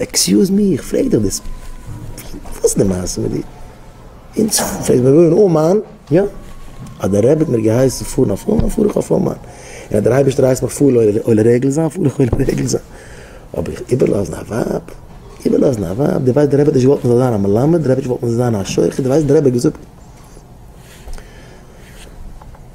עקסיוז מי, איך פרעג דיך דאס, וואס איז די מעשה מיט דיר? אונז פלעגט מען וואוינען אין אומאן, יא, אז דער רבי האט מיר געהייסן פארן אויף אומאן פאר איך אויף אומאן, און אז דער אייבערשטער הייסט מיך פאר עולה רגל זיין פאר איך עולה רגל זיין, אבער איך איבערלאזן א ווייב? איבערלאזן א ווייב? דו ווייסט דער רבי האט נישט געוואלט מען זאל זיין א מלמד, דער רבי האט נישט געוואלט מען זאל זיין א שוחט, דו ווייסט דער רבי האט געזאגט.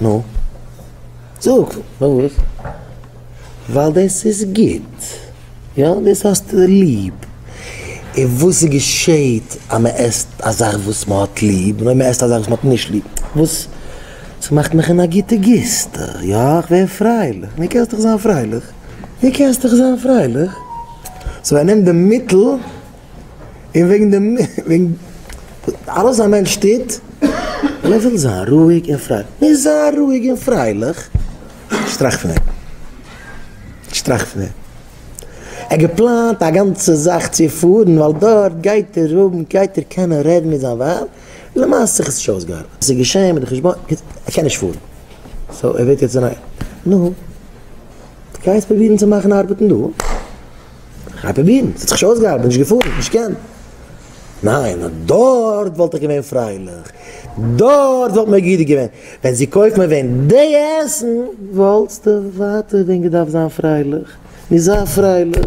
נו? זאג, פארוואס? ווייל דאס איז גוט, יא? דאס האסטו ליב. און וואס געשעהט אז מען עסט א זאך וואס מען האט ליב, און אויב מען עסט א זאך וואס מען האט נישט ליב? וואס? ס'מאכט מיך אין א גוטע גיסטע, יא? כ'ווער פרייליך. נו, קענסט דאך זיין פרייליך. נו, קענסט דאך זיין פרייליך. סאו ער נעמט די מיטל. און וועגן דעם, וועגן אלעס א מענטש טוט, און ער וויל זיין רואיג און פרייליך. נו, זיי רואיג און פרייליך. נישט טראכט פון דעם. נישט טראכט פון דעם. ער האט געפלאנט א גאנצע זאך צו פארן, ווייל דארט גייט ער האבן, גייט ער קענען רעדן מיט זיין ווייב. למעשה האט זיך עס נישט אויסגעארבעט. עס איז געשען מיט די חשבון, ער קען נישט פארן. סאו, ער וועט יעצט זיין א. נו. גייסט פרובירן צו מאכן ארבעטן דא? כ'גיי פרובירן, ס'האט זיך נישט אויסגעארבעט, נישט געפארן, נישט געקענט. ניין, נאר דארט וואלט איך געווען פרייליך, דארט וואלט מיר גוט געווען. ווען זי קויפט מיר ווען די עסן, וואלטסטו ווייטער ווען געדארפט זיין פרייליך. נו זיי פרייליך.